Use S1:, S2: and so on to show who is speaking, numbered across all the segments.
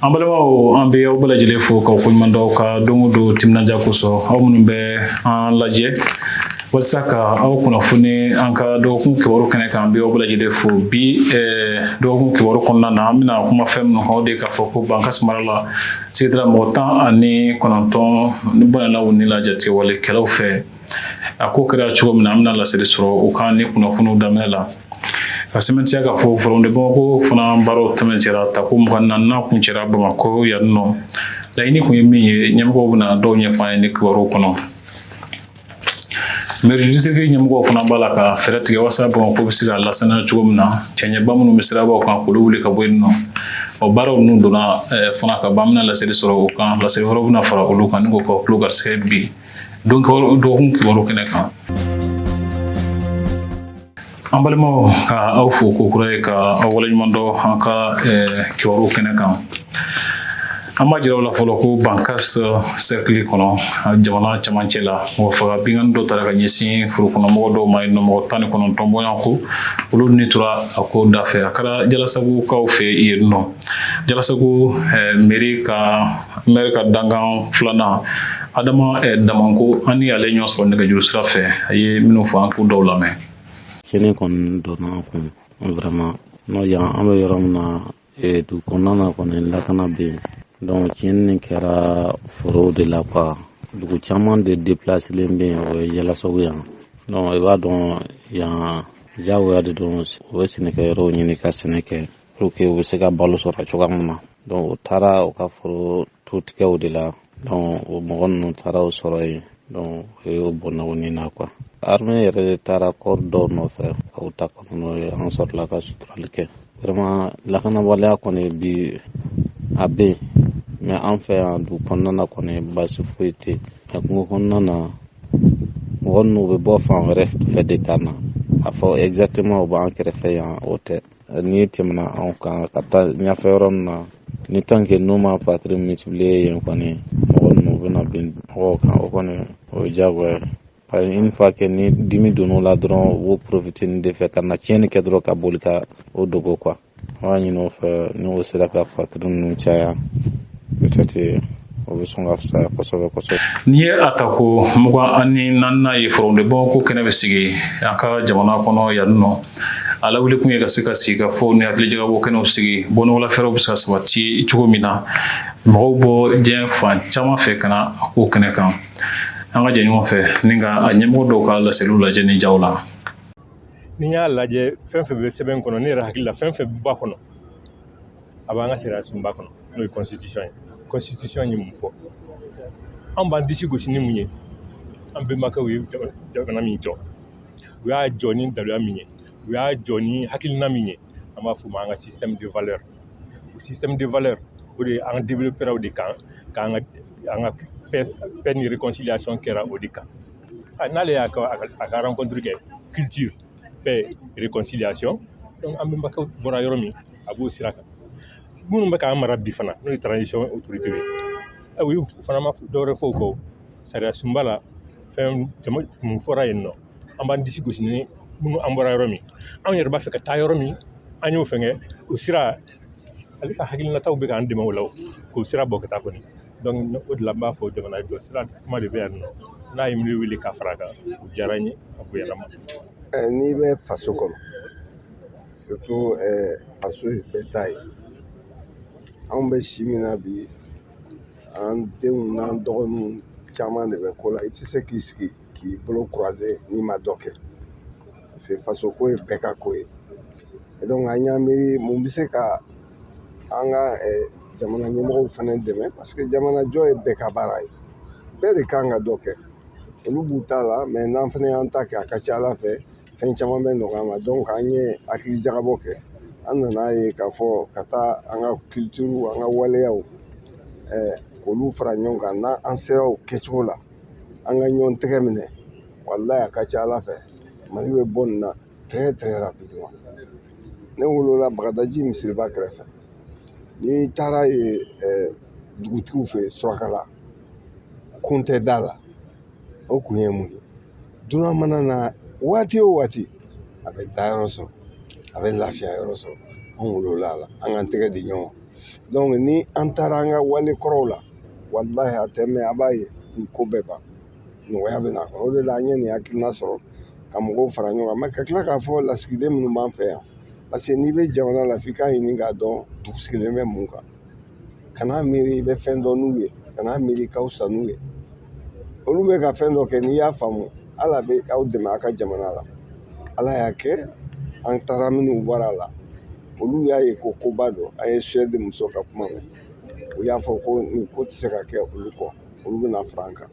S1: an balimaw an bɛ aw bɛɛ lajɛlen fo k'aw koɲuman dɔn ka don o don timinandiya kosɔn aw minnu bɛ an lajɛ walisa ka aw kunnafoni an ka dɔgɔkun kibaru kɛnɛ kan an bɛ aw bɛɛ lajɛlen fo bi dɔgɔkun kibaru kɔnɔna na an bɛna kuma fɛn minnu kan o de ye k'a fɔ ko bankasi mara la Sigida mɔgɔ tan ani kɔnɔntɔn ni bɔnɛla u ni la jatigɛwalekɛlaw fɛ a ko kɛra cogo min na an bɛna laseli sɔrɔ o kan ni kunnafoniw daminɛ la ka sɛmɛntiya k'a fɔ forum de bamakɔ fana baaraw tɛmɛsira tako mugan ni naani kuncɛra bamakɔ yan nɔ laɲini kun ye min ye ɲɛmɔgɔw bɛna dɔw ɲɛfɔ an ye ni kibaru kɔnɔ Mairie district ɲɛmɔgɔw fana b'a la ka fɛɛrɛ tigɛ walasa bamakɔ bɛ se ka lasaniya cogo min na cɛncɛnba minnu bɛ sirabaw kan k'olu wuli ka bɔ yen nɔ o baaraw ninnu donna fana ka ban an bɛna laseli sɔrɔ o kan laseli wɛrɛw bɛna fara olu kan ni k'aw tulo garisɛgɛ bi dɔgɔkun kibaru kɛnɛ kan An balimaw ka aw fo ko kura ye ka aw waleɲuman dɔn an ka kibaru kɛnɛ kan an b'a jira aw la fɔlɔ ko bankasi sɛrikili kɔnɔ jamana cɛmancɛ la mɔgɔ faga binkanni dɔ taara ka ɲɛsin foro kɔnɔmɔgɔ dɔw ma yen nɔ mɔgɔ tan ni kɔnɔntɔn bɔɲɔgɔnko olu ni tora a ko da fɛ a kɛra jalasagukaw fɛ yen nɔ jalasagu mɛri ka dankan filanan adama damango an y'ale ɲɔgɔn sɔrɔ nɛgɛjuru sira fɛ a ye minnu fɔ an k'o dɔw lamɛn tiɲɛni
S2: kɔni donna an kun vraiment n'o yan an bɛ yɔrɔ min na eh, dugu kɔnɔna na kɔni lakana bɛ yen donc tiɲɛni nin kɛra forow de la quoi dugu caman de déplacelen bɛ yen o ye jalasagu yan donc i b'a dɔn yan diyagoya de don u bɛ sɛnɛkɛyɔrɔw ɲini ka sɛnɛ kɛ pour que u bɛ se ka balo sɔrɔ cogoya min na donc u taara u ka foro tu tigɛw de la donc o mɔgɔ ninnu taara u sɔrɔ yen donc u ye u bɔnɛ u ni na quoi armée yɛrɛ de taara corps dɔw nɔfɛ ka u ta ka na n'u ye an sɔrɔla ka suturali kɛ vraiment lakanabaliya kɔni bi a bɛ yen mais an fɛ yan dugu kɔnɔna na kɔni baasi foyi tɛ yen nka kungo kɔnɔna na mɔgɔ ninnu bɛ bɔ fan wɛrɛ fɛ de ka na a fɔ exactement u b'an kɛrɛfɛ yan o tɛ n'i tɛmɛna anw kan ka taa ɲɛfɛ yɔrɔ min na ni tant que n'u ma patrouille multiplier yen kɔni mɔgɔ ninnu bɛna bin mɔgɔw kan o kɔni o ye diyagoya ye parce que une fois que ni dimi donn'o la dɔrɔn u b'o profiter nin de fɛ ka na tiɲɛni kɛ dɔrɔn ka boli ka u dogo quoi an b'a ɲini u fɛ n'u sera ka patrouille ninnu caya peut-être o bɛ sɔn ka fisaya kosɛbɛ kosɛbɛ. Nin ye a tako
S1: mugan ani naaninan ye Forum de Bamakɔ kɛnɛ bɛ sigi an ka jamana kɔnɔ yan nɔ a lawuli kun ye ka se ka sigikafɔ ni hakilijagabɔ kɛnɛw sigi bɔnɔgɔla fɛɛrɛw bɛ se ka sabati cogo min na mɔgɔw bɔ diɲɛ fan caman fɛ ka na a ko kɛnɛ kan an ka jɛ ɲɔgɔn fɛ ni ka a ɲɛmɔgɔ dɔw ka laseliw lajɛ ni jaw la. N'i
S3: y'a lajɛ fɛn fɛn bɛ sɛbɛn kɔnɔ ne yɛrɛ hakili la fɛn fɛn b'a kɔnɔ a b'an ka sariya sunba kɔnɔ n'o ye constitution ye constitution ye mun fɔ an b'an disi gosi ni mun ye an bɛnbakɛw ye jamana min jɔ u y'a jɔ ni daluya min ye u y'a jɔ ni hakilina min ye an b'a f'o ma an ka système de valeur o système de valeur o de an développera o de kan k'an ka an ka paix ni réconciliation kɛra o de kan n'ale y'a ka a ka rencontre kɛ culture paix réconciliation donc an bɛnbakɛw bɔra yɔrɔ min a b'o sira kan minnu bɛ k'an mara bi fana n'o ye transition autorité ye ɛ u y'u fana ma dɔwɛrɛ fɔ o kɔ sariya sunba la fɛn caman minnu fɔra yen nɔ an b'an disi gosi ni minnu an bɔra yɔrɔ min anw yɛrɛ b'a fɛ ka taa yɔrɔ min an y'o fɛngɛ o sira ale ka hakilinataw bɛ k'an dɛmɛ o la k'o sira bɔ ka taa kɔni donc o de la n b'a fɔ jamana jɔ sira kuma de bɛ yan nɔ n'a ye miiri wele ka fara a kan o diyara n ye a bonyana ma n'i bɛ
S4: faso kɔnɔ surtout faso ye bɛɛ ta ye anw bɛ si min na bi an denw n'an dɔgɔninw caman de bɛ ko la i tɛ se k'i sigi k'i bolo croiser n'i ma dɔ kɛ parce que faso ko ye bɛɛ ka ko ye et donc an y'an miiri mun bɛ se ka an ka eh, jamana ɲɛmɔgɔw fana dɛmɛ parce que jamana jɔ ye bɛɛ ka baara ye bɛɛ de kan ka dɔ kɛ olu b'u ta la mais n'an fana y'an ta kɛ a ka ca ala fɛ fɛn caman bɛ nɔgɔya an ma donc an ye hakilijagabɔ kɛ an nana ye k'a fɔ ka taa an ka culture an ka waleyaw eh, k'olu fara ɲɔgɔn kan n'an an sera o kɛcogo la an ka ɲɔgɔn tɛgɛ minɛ walayi a ka ca ala fɛ mali bɛ bɔ nin na très très rapidement ne wolola bagadaji misiriba kɛrɛfɛ n'i taara yen eh, dugutigiw fɛ surakala kon tɛ da la o kun ye mun ye dunan mana na waati o waati a bɛ da yɔrɔ sɔrɔ a bɛ lafiya yɔrɔ sɔrɔ an wolola a la an k'an tɛgɛ di ɲɔgɔn ma donc ni an taara an ka wale kɔrɔw la walahi a tɛ mɛn a b'a ye nin ko bɛɛ ban nɔgɔya bɛ na a kɔnɔ o de la an ye nin hakilina sɔrɔ ka mɔgɔw fara ɲɔgɔn kan ka tila k'a fɔ lasigiden minnu b'an fɛ yan parce que n'i bɛ jamana la f'i k'a ɲini k'a dɔn dugu sigilen bɛ mun kan kana miiri i bɛ fɛn dɔn n'u ye kana miiri ka fisa n'u ye olu bɛ ka fɛn dɔ kɛ n'i y'a faamu ala bɛ aw dɛmɛ a ka jamana la ala y'a kɛ an taara minnu bara la olu y'a ye ko koba don an ye Suède muso ka kuma mɛn u y'a fɔ ko nin ko tɛ se ka kɛ olu kɔ olu bɛna fara an kan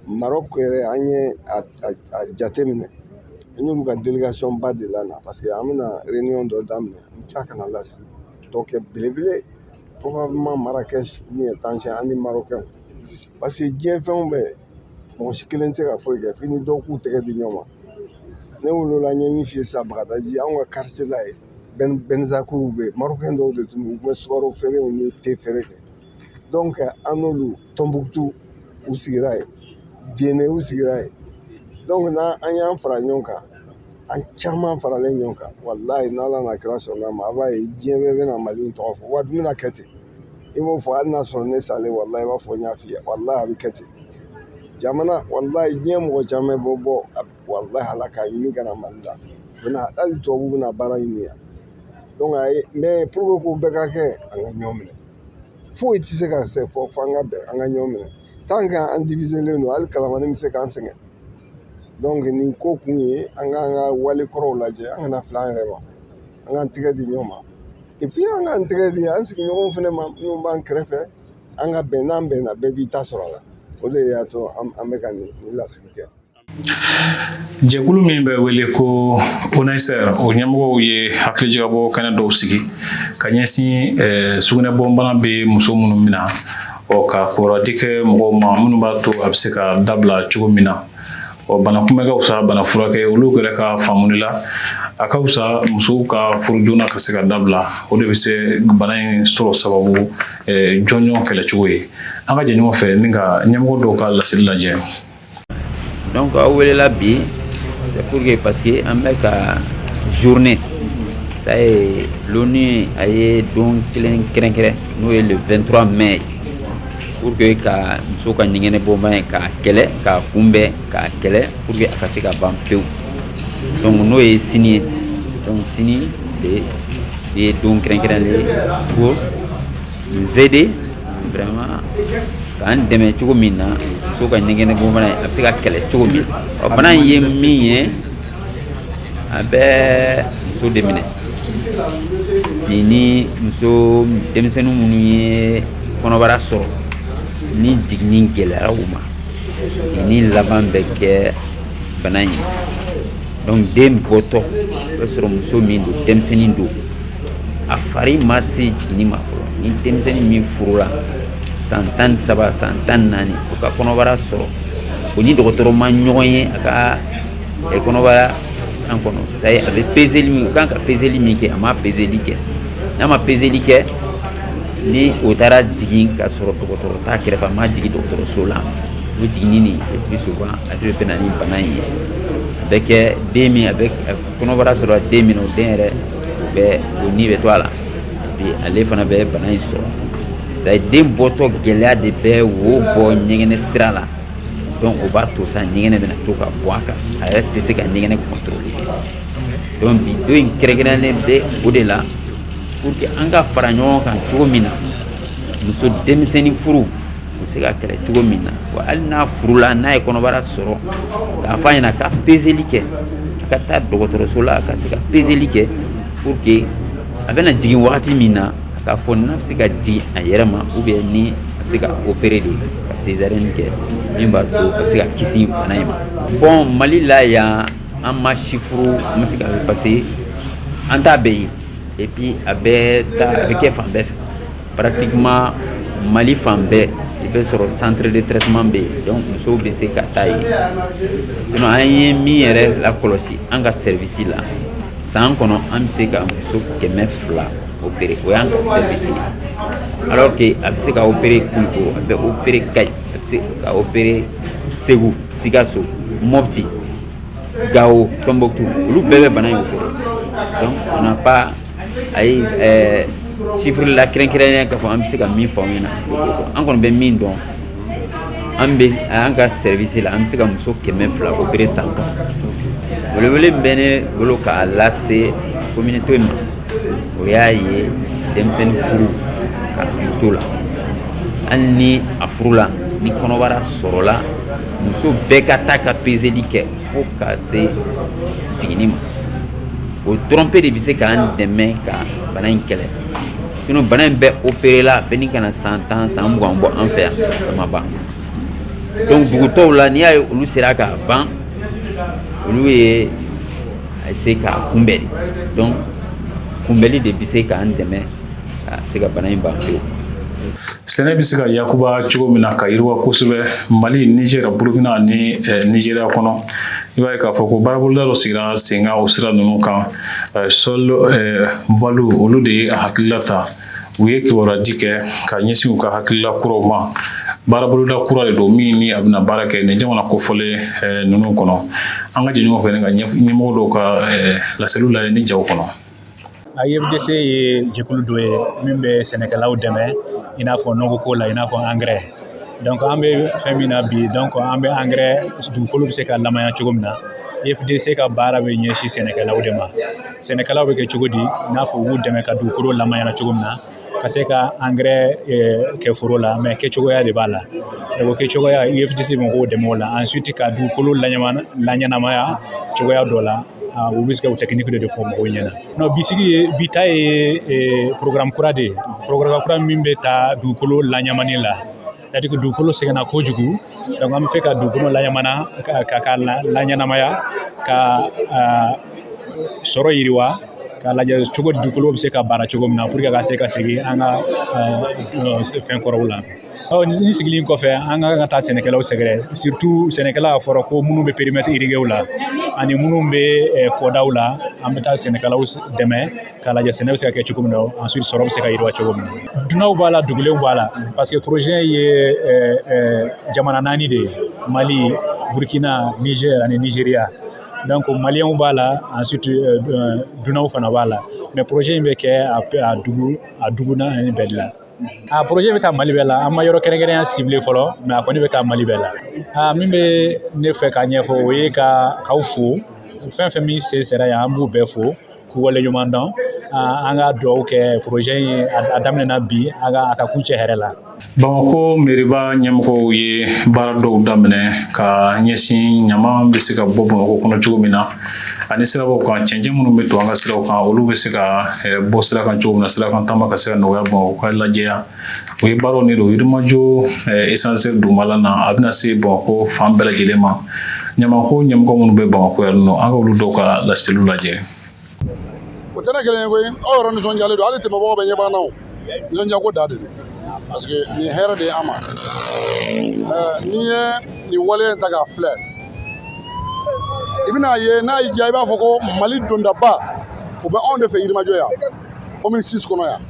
S4: marɔku yɛrɛ an ye a jate minɛ an y'olu ka délégation ba de la na parce que an bɛna réunion dɔ daminɛ n tila ka na lasigi dɔ kɛ belebele probablement Marrakech min ye Tanger an ni marɔkɛnw parce que diɲɛ fɛnw bɛɛ mɔgɔ si kelen tɛ se ka foyi kɛ f'i ni dɔw k'u tɛgɛ di ɲɔgɔn ma ne wolola n ye min f'i ye sisan bagadaji anw ka quartier la yen bɛnzakuruw bɛ yen marɔkɛn dɔw de tun don u tun bɛ sukaro feerew ni te feere kɛ donc an n'olu tɔnbukutu u sigira yen jene u sigira yen donc n'an an y'an fara ɲɔgɔn kan an caman faralen ɲɔgɔn kan walayi n'ala n'a kira sɔnna a ma a b'a ye diɲɛ bɛɛ bɛna mali in tɔgɔ fɔ wa dun bɛna kɛ ten i b'o fɔ hali n'a sɔrɔ ne salen walayi i b'a fɔ n y'a f'i ye walayi a bɛ kɛ ten jamana walayi diɲɛ mɔgɔ caman bɛ bɔ walahi ala k'a ɲini ka na mali la u bɛna hali tubabuw bɛna baara ɲini yan donc a ye mais pour que k'o bɛɛ ka kɛ an ka ɲɔgɔn minɛ foyi tɛ se ka se fo an ka bɛn an ka ɲɔgɔn minɛ tant que an diviselen don hali kalamani bɛ se k'an sɛgɛn donc nin ko kun ye an k'an ka wale kɔrɔw lajɛ an kana fili an yɛrɛ ma an k'an tɛgɛ di ɲɔgɔn ma et puis an k'an tɛgɛ di an sigiɲɔgɔnw fana ma minnu b'an kɛrɛfɛ an ka bɛn n'an bɛnna bɛɛ b'i ta sɔrɔ a la o de y'a to an bɛ ka nin lasigi kɛ
S1: Jɛkulu min bɛ wele ko ONASR o ɲɛmɔgɔw ye hakilijagabɔ kɛnɛ dɔw sigi ka ɲɛsin sugunɛbɔnbana bɛ muso minnu mina ɔ ka kɔrɔdi kɛ mɔgɔw ma minnu b'a to a bɛ se ka dabila cogo min na ɔ bana kunbɛn ka fisa bana furakɛ olu yɛrɛ ka faamu la a ka fisa musow ka furu joona ka se ka dabila o de bɛ se bana in sɔrɔ sababu jɔnjɔn kɛlɛcogo ye an ka jɛ ɲɔgɔn fɛ ni ka ɲɛmɔgɔ dɔw ka laseli lajɛ
S5: donc aw welela bi c'est pour que parce que an bɛ ka journée ça y est l'ONU a ye don kelen kɛrɛnkɛrɛn n'o ye le 23 mai pour que ka muso ka ɲɛgɛnɛ bɔnbana in k'a kɛlɛ k'a kunbɛn k'a kɛlɛ pour que a ka se ka ban pewu donc n'o ye sini ye donc sini de ye don kɛrɛnkɛrɛnlen ye pour nous aider vraiment k'an dɛmɛ cogo min na muso ka ɲɛgɛnɛ bɔnbana in a bɛ se ka kɛlɛ cogo min ɔ bana in ye min ye a bɛ muso de minɛ tin ni muso denmisɛnnin minnu ye kɔnɔbara sɔrɔ ni jiginni gɛlɛyara u ma jiginni laban bɛ kɛ bana in ye donc den bɔtɔ o bɛ sɔrɔ muso min don denmisɛnnin don a fari ma se jiginni ma fɔlɔ ni denmisɛnnin min furula san tan ni saba san tan ni naani o ka kɔnɔbara sɔrɔ o ni dɔgɔtɔrɔ ma ɲɔgɔn ye a ka eh, kɔnɔbara in kɔnɔ c'est à dire a bɛ pezeli min o kan ka pezeli min kɛ a ma pezeli kɛ n'a ma pezeli kɛ ni o taara jigin ka sɔrɔ dɔgɔtɔrɔ t'a kɛrɛfɛ a ma jigin dɔgɔtɔrɔso la o jiginni nin plus souvent a de bɛ na ni bana in ye a bɛ kɛ den min a bɛ kɔnɔbara sɔrɔ den min na o den yɛrɛ bɛ o ni bɛ to a la et puis ale fana bɛ bana in sɔrɔ c'est à dire den bɔtɔ gɛlɛya de bɛ wo bɔ ɲɛgɛnɛ sira la donc o b'a to sa ɲɛgɛnɛ bɛna to ka bɔ a kan a yɛrɛ tɛ se ka ɲɛgɛnɛ contrôler donc bi don in kɛrɛnkɛrɛnnen bɛ o de la pour que an ka fara ɲɔgɔn kan cogo min na muso denmisɛnnin furu o bɛ se ka kɛlɛ cogo min na wa hali n'a furula n'a ye kɔnɔbara sɔrɔ k'a fɔ a ɲɛna ka pezeli kɛ a ka taa dɔgɔtɔrɔso la ka se ka pezeli kɛ pour que a bɛna jigin wagati min na a k'a fɔ n'a bɛ se ka jigin a yɛrɛ ma ou bien ni a bɛ se ka opérer de ka césarienne kɛ min b'a to a bɛ se ka kisi bana in ma bon mali la yan an ma chiffre an bɛ se ka parce que an t'a bɛɛ ye et puis a bɛ taa a bɛ kɛ fan bɛɛ fɛ Pratiquement Mali fan bɛɛ i bɛ sɔrɔ centre de traitement bɛ yen donc musow bɛ se ka taa yen sinon an ye min yɛrɛ lakɔlɔsi an ka service la san kɔnɔ an bɛ se ka muso kɛmɛ fila opérer o y'an ka service ye alors que a bɛ se ka opérer Kulukoro a bɛ opérer Kayi a bɛ se ka opérer Segu Sikaso Mopti Gawo Tombouctou olu bɛɛ bɛ bana in opérer donc on n'a pas Ayi chiffre la kɛrɛnkɛrɛnnen k'a fɔ an bɛ se ka min fɔ aw ɲɛna an kɔni bɛ min dɔn an an ka service la an bɛ se ka muso kɛmɛ fila opérer san kɔnɔ welewele min bɛ ne bolo k'a lase communauté ma o y'a ye denmisɛnnin furu ka to la hali ni a furula ni kɔnɔbara sɔrɔla muso bɛɛ ka taa ka pezeli kɛ fo ka se jiginni ma o dɔrɔnpe de bɛ se k'an dɛmɛ ka bana in kɛlɛ sinon bana in bɛ opérer la bɛ ɲini ka na san tan san mugan bɔ an fɛ yan a ma ban donc dugu tɔw la n'i y'a ye olu sera k'a ban olu ye a se k'a kunbɛn de donc kunbɛnli de bɛ se k'an dɛmɛ Ka se ka bana in ban pewu.
S1: Sɛnɛ bɛ se ka yakuba cogo min na ka yiriwa kosɛbɛ Mali Nizɛri Burukina ni eh, Nizeriya kɔnɔ i b'a ye k'a fɔ ko baaraboloda dɔ sigira senkan o sira ninnu kan eh, sol eh, valo olu de ye a hakilila ta u ye kibaruyaji kɛ ka ɲɛsin u ka hakilila kuraw ma baaraboloda kura de don min ni a bɛna baara kɛ nin jamana kofɔlen ninnu kɔnɔ an ka jɛ ɲɔgɔn fɛ ni ka ɲɛmɔgɔ dɔw ka laseliw la nin jaw kɔnɔ IFDC
S6: ye jɛkulu dɔ ye min bɛ sɛnɛkɛlaw dɛmɛ i n'a fɔ nɔgɔ ko la i n'a fɔ angɛrɛ donc an bɛ fɛn min na bi donc an bɛ angɛrɛ dugukolo bɛ se ka lamanya cogo min na IFDC ka baara bɛ ɲɛsin sɛnɛkɛlaw de ma sɛnɛkɛlaw bɛ kɛ cogo di i n'a fɔ u b'u dɛmɛ ka dugukolo lamanyana cogo min na ka se ka angɛrɛ kɛ foro la mais kɛcogoya de b'a la o kɛcogoya IFDC bɛ mɔgɔw dɛmɛ o la ensuite ka dugukolo laɲɛnamaya cogoya dɔ la Ah, olu bɛ se ka o technique de fɔ mɔgɔw ɲɛna non bi bi ta ye eh, programme kura de ye programme kura min bɛ taa dugukolo laɲamani la c'est-à-dire que dugukolo sɛgɛnna kojugu donc an bɛ fɛ ka dugukolo laɲamana ka ka laɲɛnamaya ka ah, sɔrɔ yiriwa k'a lajɛ cogo di dugukolo bɛ se ka baara cogo min na pour que a ka se ka segin an ka ah, fɛn kɔrɔw la Ɔ ni sigilen kɔfɛ an ka ka taa sɛnɛkɛlaw sɛgɛrɛ surtout sɛnɛkɛla a fɔra ko minnu bɛ périmètre irriguéw la ani minnu bɛ kɔdaw la an bɛ taa sɛnɛkɛlaw dɛmɛ k'a lajɛ sɛnɛ bɛ se ka kɛ cogo min na ensuite sɔrɔ bɛ se ka yiriwa cogo min dunanw b'a la dugulenw b'a la parce que projet ye jamana naani de ye mali burukina nizeri ani nizeriya donc maliyɛnw b'a la ensuite dunanw fana b'a la mais projet in bɛ kɛ a dugu a dugu naani bɛɛ de la a projet bɛ taa mali bɛɛ la an ma yɔrɔ kɛrɛnkɛrɛnya ciblé fɔlɔ mais a kɔni bɛ taa mali bɛɛ la a min bɛ ne fɛ k'a ɲɛfɔ o ye ka k'aw fo fɛn fɛn min sen sera yan an b'u bɛɛ fo k'u waleɲuman dɔn an ka dugawu kɛ projet in a daminɛna bi a ka a ka kuncɛ hɛrɛ la
S1: bamakɔ meriba ɲɛmɔgɔw ye baara dɔw daminɛ ka ɲɛsin ɲaman bɛ se ka bɔ bamakɔ kɔnɔ cogo min na ani sirabaw kan cɛncɛn minnu bɛ to an ka siraw kan olu bɛ se ka eh, bɔ sira kan cogo min na sira kan taama ka se ka nɔgɔya bamakɔ ka lajɛya u ye baara nin don yirimajɔ eh, esanseri dugumala na a bɛna se bamakɔ fan bɛɛ lajɛlen ma ɲamanko ɲɛmɔgɔ minnu bɛ bamakɔ yan nɔ an ka olu dɔw ka laseliw lajɛ
S7: o tɛ ne kelen ye koyi aw yɛrɛ nisɔndiyalen don hali tɛmɛbagaw bɛɛ ɲɛ b'an na o Nisɔndiyako dan de don parce que nin hɛrɛ de ye an ma n'i ye nin wale in ta k'a filɛ i bɛn'a ye n'a y'i diya i b'a fɔ ko mali dondaba o bɛ anw de fɛ yirimajɔ yan commune six kɔnɔ yan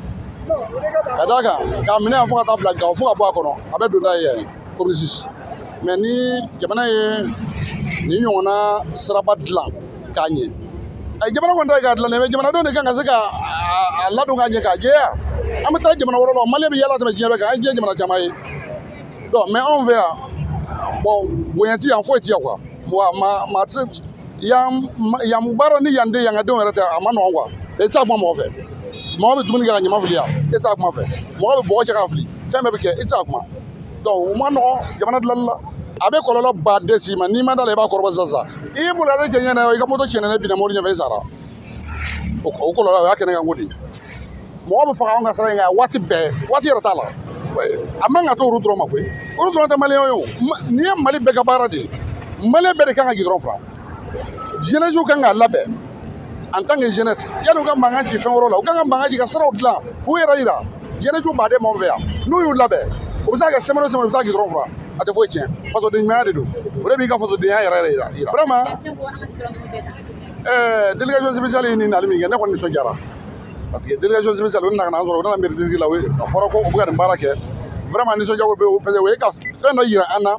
S7: ka d'a kan k'a minɛ yan fo ka taa bila gawo fo ka bɔ a kɔnɔ a bɛɛ donda ye yan commune six mais ni jamana ye nin ɲɔgɔnna siraba dilan k'a ɲɛ ayi jamana kɔni ta ye k'a dilan dɛ mais jamanadenw de kan ka se ka a ladon k'a ɲɛ k'a jɛya an bɛ taa jamana wɛrɛ la mali bɛ yaala tɛmɛ diɲɛ bɛɛ kan an ye diɲɛ jamana caman ye donc mais anw fɛ yan bon bonya ti yan foyi ti yan quoi wa ma ma ti yan yan baara ni yan den yan ka denw yɛrɛ tɛ a ma nɔgɔn quoi e t'a kuma mɔgɔ fɛ mɔgɔ bɛ dumuni kɛ ka ɲaman fili yan e t'a kuma fɛ mɔgɔ bɛ bɔgɔ cɛ k'a fili fɛn bɛɛ bɛ kɛ e t'a kuma donc o man nɔgɔ jamana dilanni la a bɛ kɔlɔlɔ ba de s'i ma n'i ma da la i b'a kɔrɔbɔ sisan sisan i y'i bolo ale cɛncɛn na i ka moto tiɲɛna n'e binna mobili ɲɛfɛ i sara o kɔlɔlɔ o y'a kɛnɛ kan ko de mɔgɔ bɛ faga anw ka sira in kan waati bɛɛ waati yɛrɛ t'a la a man ka to olu dɔrɔn ma koyi olu dɔrɔn tɛ maliyɛnw ye o nin ye mali bɛɛ ka baara de ye maliyɛn bɛɛ de kan ka gidɔrɔn filan jeunesse kan k'a labɛn en tant que jeunesse yanni u ka mankan ci fɛn wɛrɛw la u kan ka mankan ci ka siraw dilan k'u yɛrɛ yira jeunesse ba de b'anw fɛ yan n'u y'u labɛn o bɛ se ka kɛ semaine o semaine u bɛ se ka gidɔrɔn furan a tɛ foyi tiɲɛ fasodenɲumanya de don o de b'i ka fasodenya yɛrɛ yɛrɛ yira yira vraiment ɛɛ délégation spéciale ye nin nali min kɛ ne kɔni nisɔndiyara parce que délégation spéciale o nana ka na an sɔrɔ u nana mairie district la o ye a fɔra ko u bɛ ka nin baara kɛ vraiment nisɔndiyako bɛ o parce que o ye ka fɛn dɔ yira an na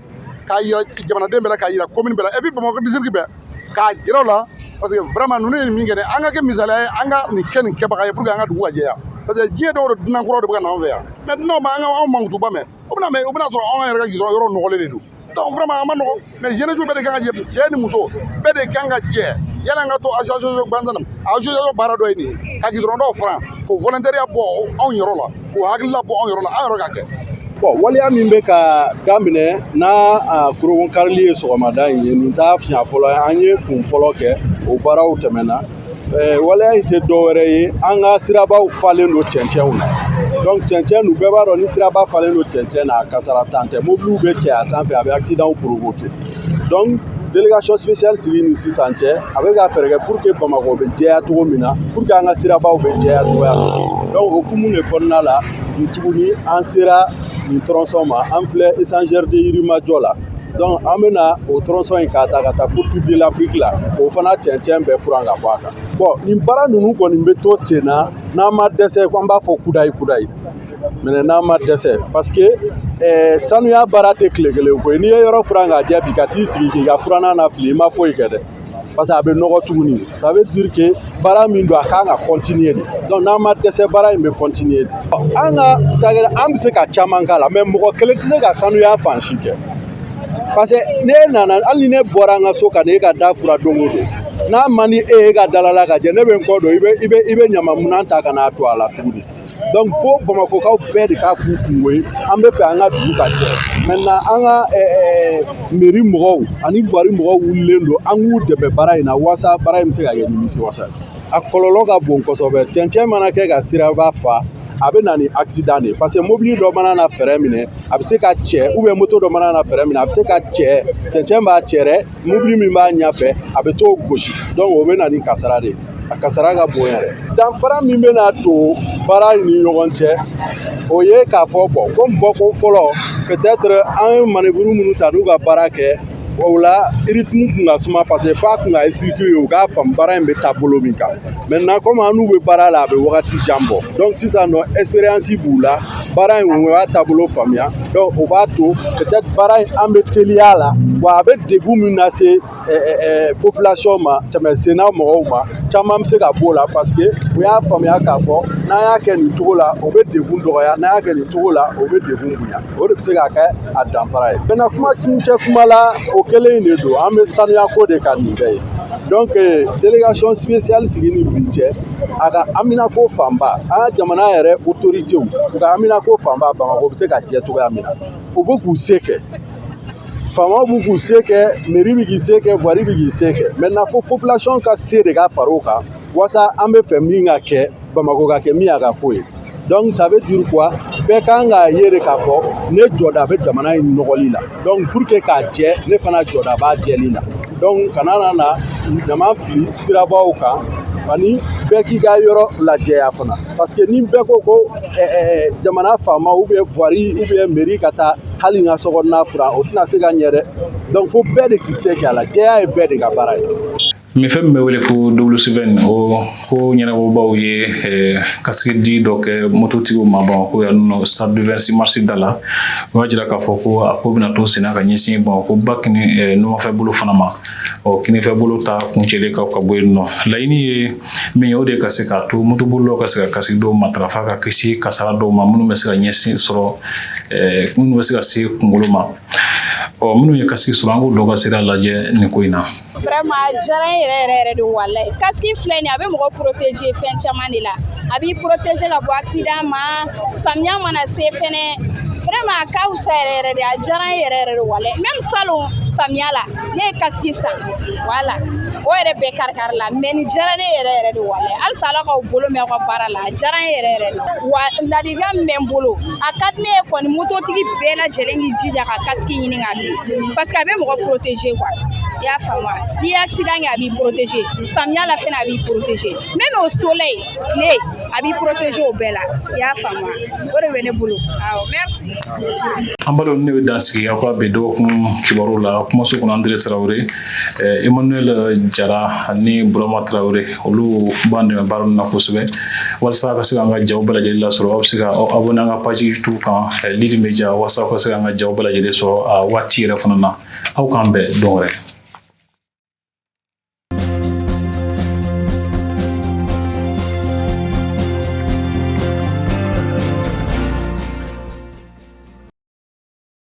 S7: k'a yira jamanaden bɛɛ la k'a yira commune bɛɛ la et puis bamakɔ district bɛɛ k'a jira o la parce que vraiment ninnu ye min kɛ dɛ an ka kɛ misali ye an ka nin kɛ nin kɛbaga ye pour que an ka dugu ka jɛya parce que diɲɛ don o don dunan kuraw de bɛ ka na anw fɛ yan mais dunanw mana anw mankutuba mɛn o bɛna mais o bɛna sɔrɔ anw yɛrɛ ka gidɔrɔn yɔrɔ nɔgɔlen de don donc vraiment a man nɔgɔ mais jeunesse bɛɛ de kan ka jɛ cɛ ni muso bɛɛ de kan ka jɛ yan'an ka to association gansan na association baara dɔ ye nin ye ka gidɔrɔn dɔw furan k'o volontariat bɔ anw yɔrɔ la k'o hakilila bɔ anw yɔrɔ la an yɛrɛ ka kɛ bon waleya
S8: min bɛ ka daminɛ n'a kurunbonkarili ye sɔgɔmada in ye nin t'a siɲɛ fɔlɔ ye an ye kun fɔlɔ kɛ o baaraw tɛmɛna waleya in tɛ dɔwɛrɛ ye an ka sirabaw falen don cɛncɛnw na donc cɛncɛn nu bɛɛ b'a dɔn ni siraba falen don cɛncɛn na kasara dan tɛ mobiliw bɛ cɛ a sanfɛ a bɛ accidentw provoquer donc délégation spéciale sigi ni sisan cɛ a bɛ ka fɛɛrɛ kɛ pour que bamakɔ bɛ jɛya cogo min na pour que an ka sirabaw bɛ jɛya cogoya min na donc o hukumu de kɔnɔna la bi tuguni an sera nin tronçon ma an filɛ échangeur de yirimajɔ la donc an bɛna o tronçon in k'a ta ka taa fo tour de l'afrique la o fana cɛncɛn bɛɛ furan ka bɔ a kan bon nin baara ninnu kɔni bɛ to sen na n'an ma dɛsɛ ko an b'a fɔ kudayi kudayi mais n'an ma dɛsɛ parce que eh, sanuya baara tɛ tile kelen ko ye n'i ye yɔrɔ furan k'a jɛ bi ka t'i sigi k'i ka furanan lafili i ma foyi kɛ dɛ parce que a bɛ nɔgɔ tuguni ça veut dire que baara min don a kan ka continuer de donc n'an ma dɛsɛ baara in bɛ continuer de an ka cakɛda an bɛ se ka caman k'a la mais mɔgɔ kelen tɛ se ka sanuya fan si kɛ parce que n'e nana hali ni ne bɔra an ka so ka na e ka da furan don o don n'a man di e ye e ka dalala ka jɛ ne bɛ n kɔ don i bɛ i bɛ i bɛ ɲamanminɛn ta ka n'a to a la tuguni donc fo bamakɔkaw bɛɛ de k'a k'u kungo ye an bɛ fɛ an ka dugu ka jɛ maintenant an ka mairie mɔgɔw ani voirie mɔgɔw wulilen don an k'u dɛmɛ baara in na waasa baara in bɛ se ka kɛ nimisiwasa a kɔlɔlɔ ka bon kosɛbɛ cɛncɛn mana kɛ ka siraba fa a bɛ na ni accident de ye parce que mobili dɔ mana na frein minɛ a bɛ se ka cɛ ou bien moto dɔ mana na frein minɛ a bɛ se ka cɛ cɛncɛn b'a cɛ dɛ mobili min b'a ɲɛfɛ a bɛ t'o gosi donc o bɛ na ni kasara de ye a kasara ka bon yɛrɛ danfara min bɛna don baara in ni ɲɔgɔn cɛ o ye k'a fɔ bɔn comme bɔko fɔlɔ peut-être an ye manevuru minnu ta n'u ka baara kɛ o la rythme kun ka suma parce que f'a kun ka expliquer u ye u k'a faamu baara in bɛ taa bolo min kan maintenant comme an n'u bɛ baara la a bɛ wagati jan bɔ donc sisan nɔ expérience b'u la baara in u y'a taabolo faamuya donc o b'a to peut-être baara in an bɛ teliya a la wa a bɛ degun min lase population ma tɛmɛsenna mɔgɔw ma caman bɛ se ka b'o la parce que u y'a faamuya k'a fɔ n'an y'a kɛ nin cogo la o bɛ degun dɔgɔya n'an y'a kɛ nin cogo la o bɛ degun bonya o de bɛ se ka kɛ a danfara ye maintenant kuma kuncɛ kuma la o kelen de don an bɛ sanuyako de kan nin bɛɛ ye donc délégation spéciale sigi ni bi cɛ a ka haminako fanba an ka jamana yɛrɛ autorités u ka haminako fanba bamakɔ bɛ se ka jɛ cogoya min na u bɛ k'u se kɛ faamaw b'u k'u se kɛ mairie bɛ k'i se kɛ voirie bɛ k'i se kɛ maintenant fo population ka se de ka fara o kan walasa an b'a fɛ min ka kɛ bamakɔ ka kɛ min y'a ka k'o ye donc ça veut dire quoi bɛɛ kan k'a ye de k'a fɔ ne jɔda bɛ jamana in nɔgɔli la donc pour que k'a jɛ ne fana jɔda b'a jɛli la donc kana na na ɲaman fili sirabaw kan ani bɛɛ k'i ka yɔrɔ lajɛya fana parce que ni bɛɛ ko ko jamana faama ou bien voirie ou bien mairie ka taa hali n ka sokɔnɔna furan o tɛna se ka ɲɛ dɛ donc fo bɛɛ de k'i se kɛ a la jɛya ye bɛɛ de ka baara ye Nin fɛn min bɛ
S1: wele ko dsi in o ko ɲɛnabɔbaw ye eh, kasiki di dɔ kɛ mototigiw ma Bamako yan nɔ stade du 26 mars da la o y'a jira k'a fɔ ko a ko bɛna to senna ka ɲɛsin Bamako ba k eh, numanfɛ bolo fana ma ɔ kinifɛ bolo ta kuncɛlen kɔ ka bɔ yen nɔ laɲini ye min ye o de ka se k'a to motobolilaw ka se ka kasiki don matarafa ka kisi kasara dɔw ma minnu bɛ se ka ɲɛsin sɔrɔ eh, minnu bɛ se ka se kunkolo ma ɔ minnu ye kasiki sɔrɔ an k'o dɔw ka sira lajɛ nin ko in na vraiment diyara
S9: n yɛrɛ yɛrɛ yɛrɛ de walayi kasiki filɛ nin a bɛ mɔgɔ protéger fɛn caman de la a b'i protéger ka bɔ accident ma samiya mana se fɛnɛ vraiment a ka fisa yɛrɛ yɛrɛ de a diyara n yɛrɛ yɛrɛ de walayi même salon samiya la ne ye kasiki san voilà o yɛrɛ bɛɛ karikarila mais nin diyara ne yɛrɛ yɛrɛ de walayi halisa ala k'aw bolo mɛn aw ka baara la a diyara n yɛrɛ yɛrɛ de wa ladilikan min bɛ n bolo a ka di ne ye kɔni mototigi bɛɛ lajɛlen k'i jija ka kasiki ɲini ka don parce que a bɛ mɔgɔ protéger quoi i y'a faamu wa n'i ye accident kɛ a b'i protéger samiya la fɛnɛ a b'i protéger même au soleil a b'i protéger o bɛɛ la i y'a faamu wa o de bɛ ne bolo awɔ merci. an balimaw ne bɛ
S1: dan sigi aw ka bi dɔgɔkun kibaruw la kumaso kɔnɔ Andire Tarawele. Emmanuel Jara ani Burama Tarawele olu b'an dɛmɛ baara nin na kosɛbɛ walasa a ka se k'an ka jaw bɛɛ lajɛlen lasɔrɔ aw bɛ se ka aw abonné an ka page YouTube kan Lidi Media walasa aw ka se k'an ka jaw bɛɛ lajɛlen sɔrɔ a waati yɛrɛ fana na aw k'an bɛn don wɛrɛ.